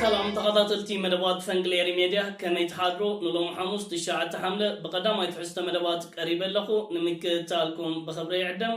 ሰላም ተኸታተልቲ መደባት ፈንቅል ኤሪ ሜድያ ከመይ ትሓድሩ ንሎሚ ሓሙስ ትሽዓተ ሓምለ ብቀዳማይ ትሕዝቶ መደባት ቀሪበ ኣለኹ ንምክትታልኩም ብኽብሪ ይዕደም።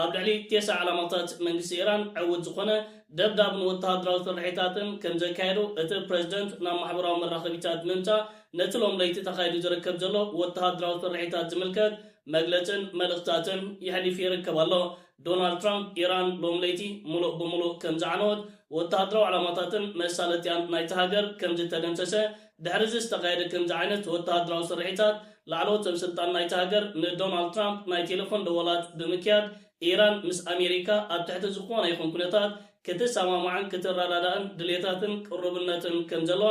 ኣብ ልዕሊ ቴስዓ ዕላማታት መንግስቲ ኢራን ዕውት ዝኾነ ደብዳብን ወተሃደራዊ ስርሒታትን ከምዘካየዱ እቲ ፕረዚደንት ናብ ማሕበራዊ መራኸቢታት ብምምጻእ ነቲ ሎም ለይቲ ተኻይዱ ዝርከብ ዘሎ ወተሃደራዊ ስርሒታት ዝምልከት መግለጽን መልእኽታትን የሕሊፉ ይርከብ ኣሎ። ዶናልድ ትራምፕ ኢራን ሎም ለይቲ ምሉእ ብምሉእ ከምዝዓነወት፣ ወተሃደራዊ ዕላማታትን መሳለጥያን ናይታ ሃገር ከምዝተደምሰሰ፣ ድሕሪ'ዚ ዝተኻየደ ከምዚ ዓይነት ወተሃደራዊ ስርሒታት፣ ላዕለዎት ሰበስልጣን ናይታ ሃገር ንዶናልድ ትራምፕ ናይ ቴለፎን ደወላት ብምክያድ፣ ኢራን ምስ ኣሜሪካ ኣብ ትሕቲ ዝኾነ ይኹን ኩነታት ክትሰማማዕን ክትረዳዳእን ድልየታትን ቅሩብነትን ከምዘለዋ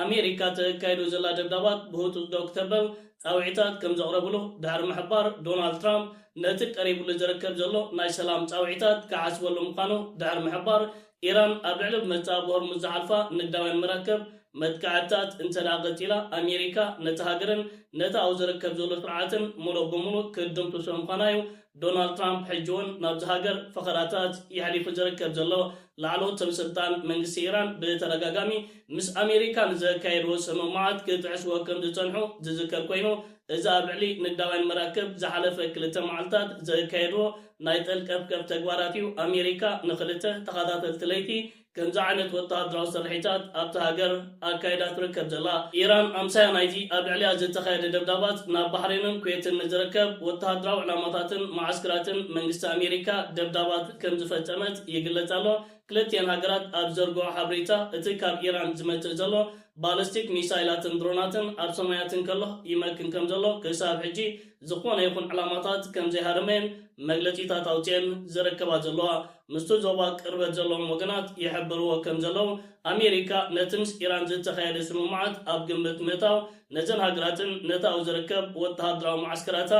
ኣሜሪካ ተካይዶ ዘላ ደብዳባት ብህጹጽ ደው ክተበል ጻውዒታት ከምዘቕረብሉ ድሕሪ ምሕባር፣ ዶናልድ ትራምፕ ነቲ ቀሪብሉ ዝርከብ ዘሎ ናይ ሰላም ጻውዒታት ክሓስበሉ ምዃኑ ድሕሪ ምሕባር፣ ኢራን ኣብ ልዕሊ ብመጻብብ ሆርሙዝ ዝሓልፋ ንግዳውያን መራከብ መጥቃዕትታት እንተድኣ ቀጺላ፣ ኣሜሪካ ነታ ሃገርን ነቲ ኣብኡ ዝርከብ ዘሎ ስርዓትን ምሉእ ብምሉእ ክትድምስሶ ምዃና'ዩ ዶናልድ ትራምፕ ሕጂ'ውን ናብዛ ሃገር ፈኸራታት የሕሊፉ ዝርከብ ዘሎ። ላዕለዎት ሰበስልጣን መንግስቲ ኢራን ብተደጋጋሚ ምስ ኣሜሪካ ንዘካየድዎ ስምምዓት ክጥሕስዎ ከምዝጸንሑ ዝዝከር ኮይኑ፣ እዚ ኣብ ልዕሊ ንግዳውያን መራክብ ዝሓለፈ ክልተ መዓልታት ዘካየድዎ ናይ ጠልቀብቀብ ተግባራት'ዩ፣ ኣሜሪካ ንኽልተ ተኸታተልቲ ለይቲ ከምዚ ዓይነት ወተሃደራዊ ስርሒታት ኣብታ ሃገር ኣካይዳ ትርከብ ዘላ። ኢራን ኣምሳያ ናይዚ ኣብ ልዕሊኣ ዝተኻየደ ደብዳባት ናብ ባሕሬንን ኩዌትን ንዝርከብ ወተሃደራዊ ዕላማታትን መዓስክራትን መንግስቲ ኣሜሪካ ደብዳባት ከምዝፈጸመት ይግለጽ ኣሎ። ክልቲኤን ሃገራት ኣብ ዝዘርግሕኦ ሓበሬታ እቲ ካብ ኢራን ዝመጽእ ዘሎ ባለስቲክ ሚሳይላትን ድሮናትን ኣብ ሰማያት እንከሎ ይመክን ከምዘሎ ክሳብ ሕጂ ዝኾነ ይኹን ዕላማታት ከም ዘይሃረመ መግለጺታት ኣውጺኤን ዝርከባ ዘለዋ ምስቲ ዞባ ቅርበት ዘለዎም ወገናት ይሕብርዎ ከም ዘለዉ፣ ኣሜሪካ ነቲ ምስ ኢራን ዝተኻየደ ስምምዓት ኣብ ግምት ምእታው ነዘን ሃገራትን ነቲ ኣብኡ ዝርከብ ወተሃደራዊ መዓስከራታ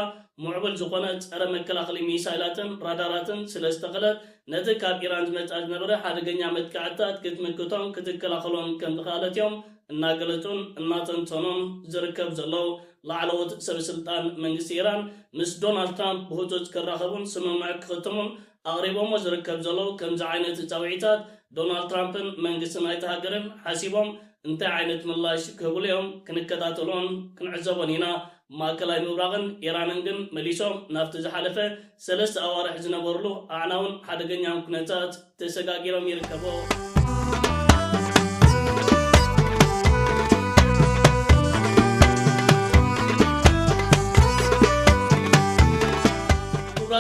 ሙዕቡል ዝኾነ ጸረ መከላኸሊ ሚሳይላትን ራዳራትን ስለ ዝተኸለት ነቲ ካብ ኢራን ዝመጽኣ ዝነበረ ሓደገኛ መጥቃዕትታት ክትምክቶን ክትከላኸሎን ከም ዝኸኣለት እዮም እናገለጹን እናተንተኑን ዝርከቡ ዘለዉ። ላዕለዎት ሰበስልጣን መንግስቲ ኢራን ምስ ዶናልድ ትራምፕ ብህጹጽ ክራኸቡን ስምምዕ ክኽትሙን ኣቕሪቦሞ ዝርከብ ዘለዉ ከምዚ ዓይነት ጻውዒታት ዶናልድ ትራምፕን መንግስቲ ናይታ ሃገርን ሓሲቦም እንታይ ዓይነት ምላሽ ክህብሉ'ዮም ክንከታተሎን ክንዕዘቦን ኢና። ማእከላይ ምብራቕን ኢራንን ግን መሊሶም ናብቲ ዝሓለፈ ሰለስተ ኣዋርሕ ዝነበርሉ ኣዕናውን ሓደገኛን ኩነታት ተሰጋጊሮም ይርከቦ።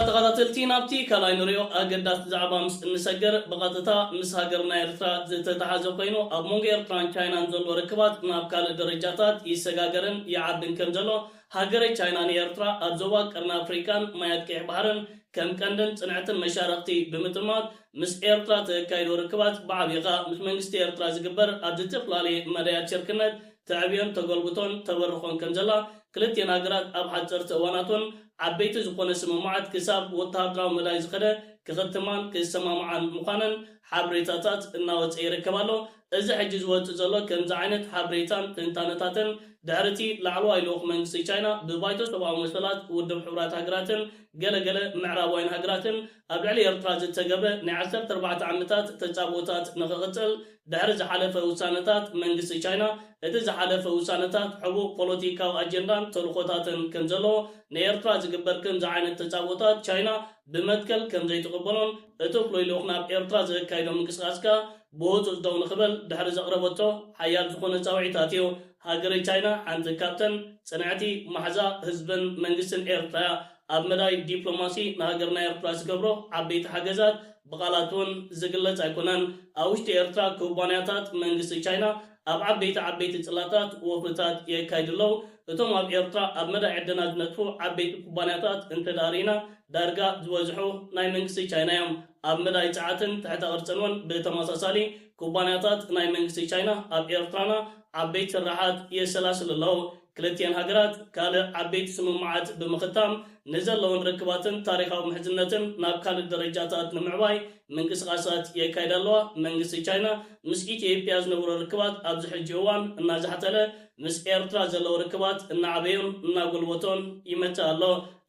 ተኸታተልቲ ናብቲ ካልኣይ ንሪኦ ኣገዳሲ ዛዕባ ምስ እንሰገር ብቐጥታ ምስ ሃገርና ኤርትራ ዝተታሓዘ ኮይኑ ኣብ መንጎ ኤርትራን ቻይናን ዘሎ ርክባት ናብ ካልእ ደረጃታት ይሰጋገርን ይዓብን ከምዘሎ ሃገረ ቻይና ንኤርትራ ኣብ ዞባ ቀርኒ ኣፍሪቃን ማያት ቀይሕ ባሕርን ከም ቀንድን ጽንዕትን መሻርኽቲ ብምጥማት ምስ ኤርትራ ተካይዶ ርክባት ብዓብዩ ከኣ ምስ መንግስቲ ኤርትራ ዝግበር ኣብ ዝተፍላለየ መዳያት ሽርክነት ተዕብዮን ተጎልብቶን ተበርኾን ከም ዘላ ክልቲኤን ሃገራት ኣብ ሓጸርቲ እዋናት ውን ዓበይቲ ዝኾነ ስምምዓት ክሳብ ወተሃደራዊ መዳይ ዝኸደ ክኽትማን ክሰማምዓን ምዃነን ሓብሬታታት እናወጸ ይርከብ ኣሎ። እዚ ሕጂ ዝወጽእ ዘሎ ከምዚ ዓይነት ሓብሬታን ትንታነታትን ድሕሪቲ ላዕለዋይ ልኡኽ መንግስቲ ቻይና ብባይቶ ሰብኣዊ መሰላት ውድብ ሕቡራት ሃገራትን ገለ ገለ ምዕራባውያን ሃገራትን ኣብ ልዕሊ ኤርትራ ዝተገብረ ናይ ዓሰርተ ኣርባዕተ ዓመታት ተጻብኦታት ንኽቕጽል ድሕሪ ዝሓለፈ ውሳነታት መንግስቲ ቻይና እቲ ዝሓለፈ ውሳነታት ሕቡእ ፖሎቲካዊ ኣጀንዳን ተልኾታትን ከምዘለዎ ንኤርትራ ዝግበር ከምዚ ዓይነት ተጻብኦታት ቻይና ብመትከል ከምዘይትቕበሎን እቲ ፍሉይ ልኡኽ ናብ ኤርትራ ዘካይዶ ምንቅስቓስ ከኣ ብወጹዕ ጠው ንኽበል ድሕሪ ዘቕረበቶ ሓያል ዝኾነ ጻውዒታት'ዩ። ሃገረ ቻይና ሓንቲ ካብተን ጽንዕቲ ማሕዛ ህዝብን መንግስትን ኤርትራ'ያ። ኣብ መዳይ ዲፕሎማሲ ንሃገርና ኤርትራ ዝገብሮ ዓበይቲ ሓገዛት ብቓላት'ውን ዝግለጽ ኣይኮነን። ኣብ ውሽጢ ኤርትራ ኩባንያታት መንግስቲ ቻይና፣ ኣብ ዓበይቲ ዓበይቲ ጽላታት ወፍርታት የካይዱ ኣለዉ። እቶም ኣብ ኤርትራ ኣብ መዳይ ዕደና ዝነጥፉ ዓበይቲ ኩባንያታት እንተድኣ ርኢና ዳርጋ ዝበዝሑ ናይ መንግስቲ ቻይና እዮም። ኣብ መዳይ ጸዓትን ትሕተ ቅርጽን እውን ብተመሳሳሊ ኩባንያታት ናይ መንግስቲ ቻይና ኣብ ኤርትራና ዓበይቲ ስርሓት የሰላስሉ ኣለዉ። ክልቲኣን ሃገራት ካልእ ዓበይቲ ስምምዓት ብምኽታም ንዘለወን ርክባትን ታሪኻዊ ምሕዝነትን ናብ ካልእ ደረጃታት ንምዕባይ ምንቅስቓሳት የካይዳ ኣለዋ። መንግስቲ ቻይና ምስ ኢትዮጵያ ዝነበሮ ርክባት ኣብዚ ሕጂ እዋን እናዛሕተለ ምስ ኤርትራ ዘለዎ ርክባት እናዓበዮን እናጎልበቶን ይመጽእ ኣሎ።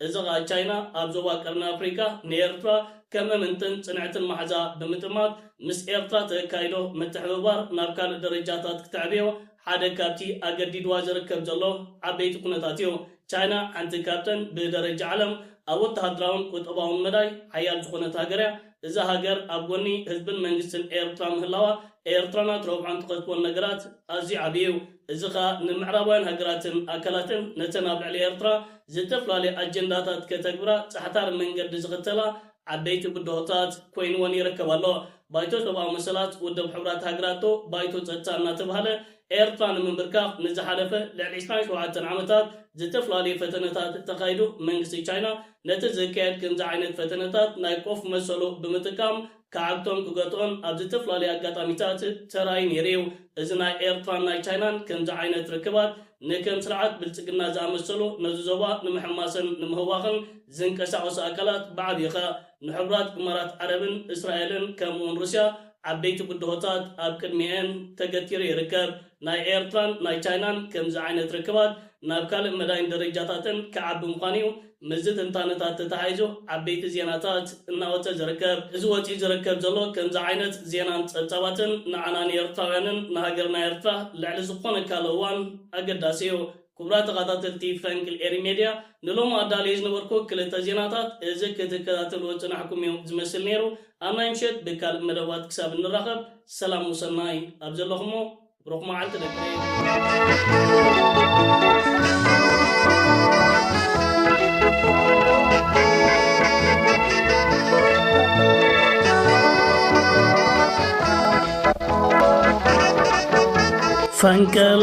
እዚ ከኣ ቻይና ኣብ ዞባ ቀርኒ ኣፍሪቃ ንኤርትራ ከም እምንትን ጽንዕትን ማሕዛ ብምጥማት ምስ ኤርትራ ተካይዶ ምትሕብባር ናብ ካልእ ደረጃታት ክተዕብዮ ሓደ ካብቲ ኣገዲድዋ ዝርከብ ዘሎ ዓበይቲ ኩነታት እዩ። ቻይና ሓንቲ ካብተን ብደረጃ ዓለም ኣብ ወተሃደራውን ቁጠባውን መዳይ ሓያል ዝኾነት ሃገር እያ። እዛ ሃገር ኣብ ጎኒ ህዝብን መንግስትን ኤርትራ ምህላዋ ኤርትራና ትረብሖን ትኸስቦን ነገራት ኣዝዩ ዓቢ እዩ። እዚ ከኣ ንምዕራባውያን ሃገራትን ኣካላትን ነተን ኣብ ልዕሊ ኤርትራ ዝተፈላለየ ኣጀንዳታት ከተግብራ ጻሕታሪ መንገዲ ዝኽተላ ዓበይቲ ብድሆታት ኮይንወን ይርከብ ኣሎ። ባይቶ ሰብኣዊ መሰላት ውድብ ሕቡራት ሃገራትዶ ባይቶ ጸጥታ እናተብሃለ፣ ኤርትራ ንምምብርካኽ ንዝሓለፈ ልዕሊ ዕስራን ሸውዓተን ዓመታት ዝተፍላለዩ ፈተነታት ተኻይዱ፣ መንግስቲ ቻይና ነቲ ዝካየድ ከምዚ ዓይነት ፈተነታት ናይ ቆፍ መሰሉ ብምጥቃም ክዓግቶን ክገትኦን ኣብ ዝተፍላለዩ ኣጋጣሚታት ተራእዩ ነይሩዩ። እዚ ናይ ኤርትራን ናይ ቻይናን ከምዚ ዓይነት ርክባት ንከም ስርዓት ብልጽግና ዝኣመሰሉ ነዚ ዞባ ንምሕማስን ንምህዋኽን ዝንቀሳቐሱ ኣካላት ብዓብዪ ከኣ ንሕቡራት እማራት ዓረብን እስራኤልን ከምኡ'ውን ሩስያ ዓበይቲ ብድሆታት ኣብ ቅድሚኤን ተገቲሩ ይርከብ። ናይ ኤርትራን ናይ ቻይናን ከምዚ ዓይነት ርክባት ናብ ካልእ መዳይን ደረጃታትን ክዓቢ ምዃኑ'ዩ ምስዚ ትንታነታት ተተሓሒዙ ዓበይቲ ዜናታት እናወጸ ዝርከብ። እዚ ወጺኡ ዝርከብ ዘሎ ከምዚ ዓይነት ዜናን ጸብጻባትን ንዓና ንኤርትራውያንን ንሃገርና ኤርትራ ልዕሊ ዝኾነ ካልእ እዋን ኣገዳሲ'ዩ። ኩቡራት ተኻታተልቲ ፈንቅል ኤሪ ሜድያ ንሎሚ ኣዳልየ ዝነበርኩ ክልተ ዜናታት እዚ ክትከታተልዎ ዝጸናሕኩም እዩ ዝመስል ኔሩ ኣብ ናይ ምሸት ብካልእ መደባት ክሳብ እንራኸብ ሰላም ወሰናይ ኣብ ዘለኹሞ ብሩኽ መዓልቲ ደቂ ፈንቅል